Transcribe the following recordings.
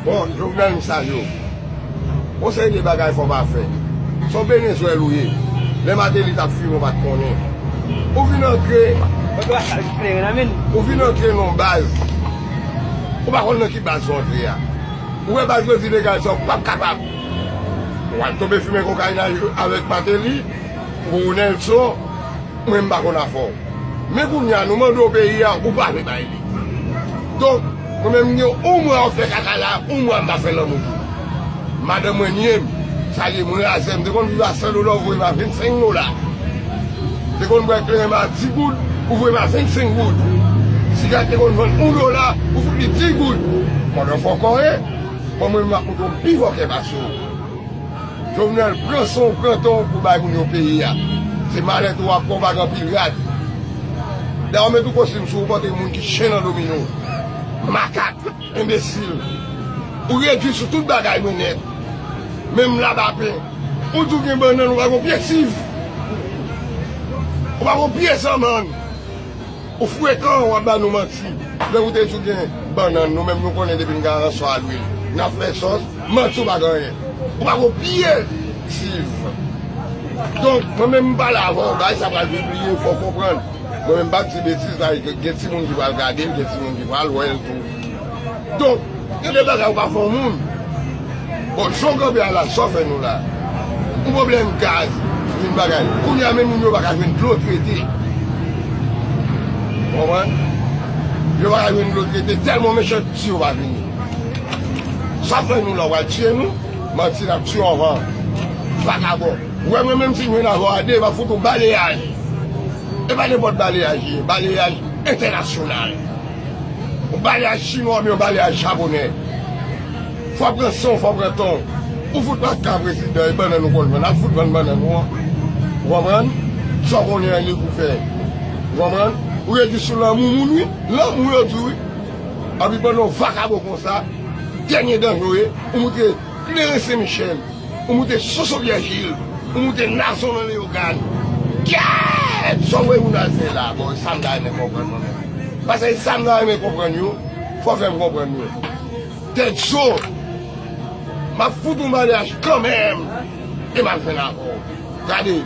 Bon jovenel m salye w. Yon seri de bagay fò pa fè. Son benezwèl ou ye. Lè mateli tap fime ou pat konnen. Ou vin antre. Ou vin antre nan yon baz. Ou pa konn nan ki baz ou antre ya. Ou wè baz yo di degaj sa ou pap kapab. Wal tonbe fime kokayin avek mateli. Ronelson. Mwen m pa konn afè w. Men kounye a nou mande w peyi a, ou pa vle bay li. Donk, mwen menm m gen yon mwa wap fè kaka la, yon mwa m pa fè lanmou pou ou. Madanm mwen nye m, sa vle di m razè. M te konn viv a 100 dola ou voye m a 25 dola. M te konn bwè kleren m a 10 goud, ou voye m a 25 goud. Siga te konn vann 1 dola, ou fout li 10 goud. Mòd an fòkòre, bon mwen menm m ap montre w m pi fòkè pase w. Jovenel pran son w pran ton w pou bay moun yo peyi a. Se malèt ou wap pran w pa gen anpil rad. Daw met yon kostim sou ou panke moun ki chen nan domino. Makak, enbesil. Ou redwi sou tout bagay mwen nèt. Menm labapen. Ou di w gen bannann ou pa gen yon pye siv. Ou pa gen yon pye zanmann. Ou frekan wap ba nou manti lè ou te di ou gen bannann nou menm nou konnen depi n gen aransò a lwil nap fè sòs manti ou pa gen anyen ou pa gon pye silv donk mwen menm m pale avèw bagay sa pral pibliye fòw konprann mwen menm m pap di betiz la gen timoun ki pral gadel gen timoun ki pral wèl tou. Donk, gen de bagay ou pa fè yon moun. Bon, jan w kanpe a la, sa w fè nou la? Yon pwoblèm gaz, yon bagay. Kounye a menm moun yo pa ka jwenn dlo trete. Ou konprann? Yo pa ka jwenn dlo trete tèlman mechansti yo pa fini. Sa w fè nou la? W pral tiye nou? Manti, n ap tiye w anvan. Vakabon. Ou wè mwen menm si m jwenn avè w a de, m ap fout ou baleyaj. E pa nenpòt baleyaj li ye, baleyaj entènasyonal. Ou pale a chinwa oubyen ou pale a japonè. Fò pran san w, fò pran tan w. Ou fout pa ka prezidan e bannann ou konn vann. Al fout vann bannann ou an. Ou konprann? Sa w konnen an ye pou w fè. Ou konprann? Ou rete sou lanmou moun wi. Lanmou yo di wi. Epi pandan w vakabon konsa, dènye danje w ye. Ou moutre. Kleren sen michel ou moute soso vyèjil ou moute nazon nan leyogàn kèèèèt sa w voye moun al fè la bon e sa m ta renmen konprann mwen menm pase e sa m ta renmen konprann yo fò w fè m konprann yo tèt zo m ap fout ou maryaj kanmèm e m ap jwenn avè w gade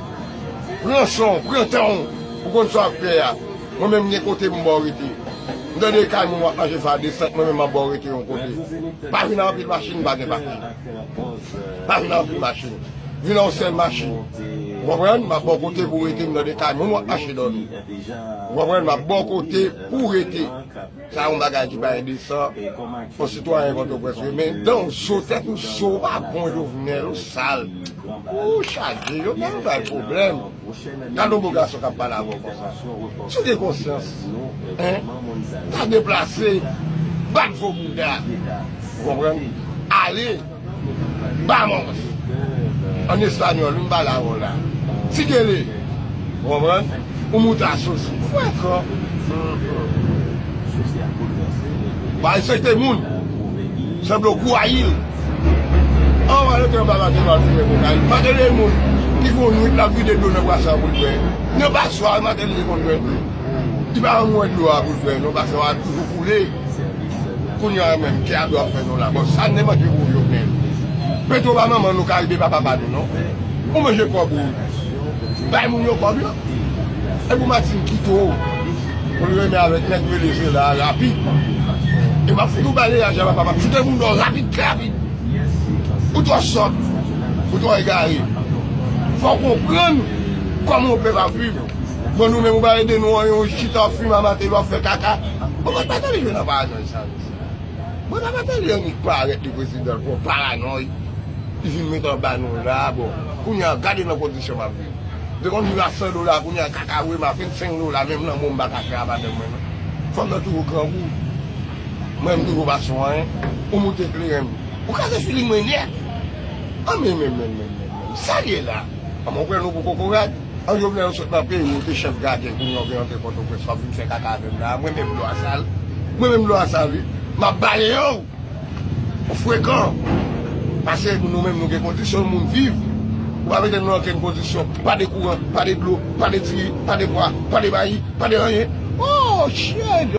pran san w pran tan w pou w konn sa w ap fè a. Mwen menm gen kote m baw rete. M tande kay moun wap manje sa desant mwen menm map baw rete yon kote. Pa vin ak anpil machin pa gen papye. Pa vin ak anpil machin. Vin ak yon sèl machin. Ou konprann? Map baw kote pou rete m tande kay moun wap mache dòmi. Ou konprann? Map baw kote pou rete. Sa yon bagay ki pa endesan. Yon sitwayen pòtoprens renmen dan w so tèt ou so ou pa bon Jovenel ou sal. Ooh chaje yo pa bay pwoblèm. Gadon bo gason kap pale avèw konsa. Si w gen konsyans hein pa deplase bat vo bouda ou konprann ale Bahamas an español wi m pale avèw la ti gele ou konprann ou moute a sosi ou wè kò Ba respekte moun se blocou a il. Anvan yo te yon baba te pati men kokayin. Mateli moun ki fon nwit lap vide dlo nan bwason an poul bwè. Nan bwason an mateli te konn bwè dlo. Li pa janm wè dlo a poul bwè non bwason an toujou koule. Kounya a menm kè a dwe ap fè nou la. Bon sa nou te manje pou jovenel. Petro pa manman nou karibe pa papa nou non. Ou manje kob ou. Bay moun yo kob yo. Epi ou Martine kite w. Pou li renmen avèk nèg rele Jela a rapid E map fout ou bale a Jela papa Mchoute moun dò rapid trè rapid Ou twò sòt Ou twò egare Fòw konprann Kòman yon pèp ap viv Bon nou menm ou bale de nou an yon chita wap fime a Mateli wap fè kaka Bon kot Mateli jwenn nan paranòy sa menm Bon nan Mateli annik parèt li prezidan l pou yon paranòy Li vin met anba nou la bon Kounya gade nan kondisyon map viv. Mte konn viv a 100 dola kounye a kaka wèm a 25 dola menm lanmò m paka fè a madanm mwen non fanm nan toujou grangou mwen m toujou pa sou anyen ou moute kleren m ou kraze figi mwen nèt anmèmèmmèmmèmmèmmèm sal ye la anmè ou pran nou pou kokorat an jovenel ou sot nan peyi ou te chèf gadyen kounye a ou vin antre pòtoprens wap vin fè kaka avèm la mwen menm dlo a sal mwen menm dlo a sal wi map baleyew. Ou frekan. Pase nou menm nou gen kondisyon moun viv. Ou pa mete nou nan okenn kondisyon. Pa de kouran, pa de dlo, pa de diri, pa de pwa, pa de mayi, pa de anyen. Ohh! Chien!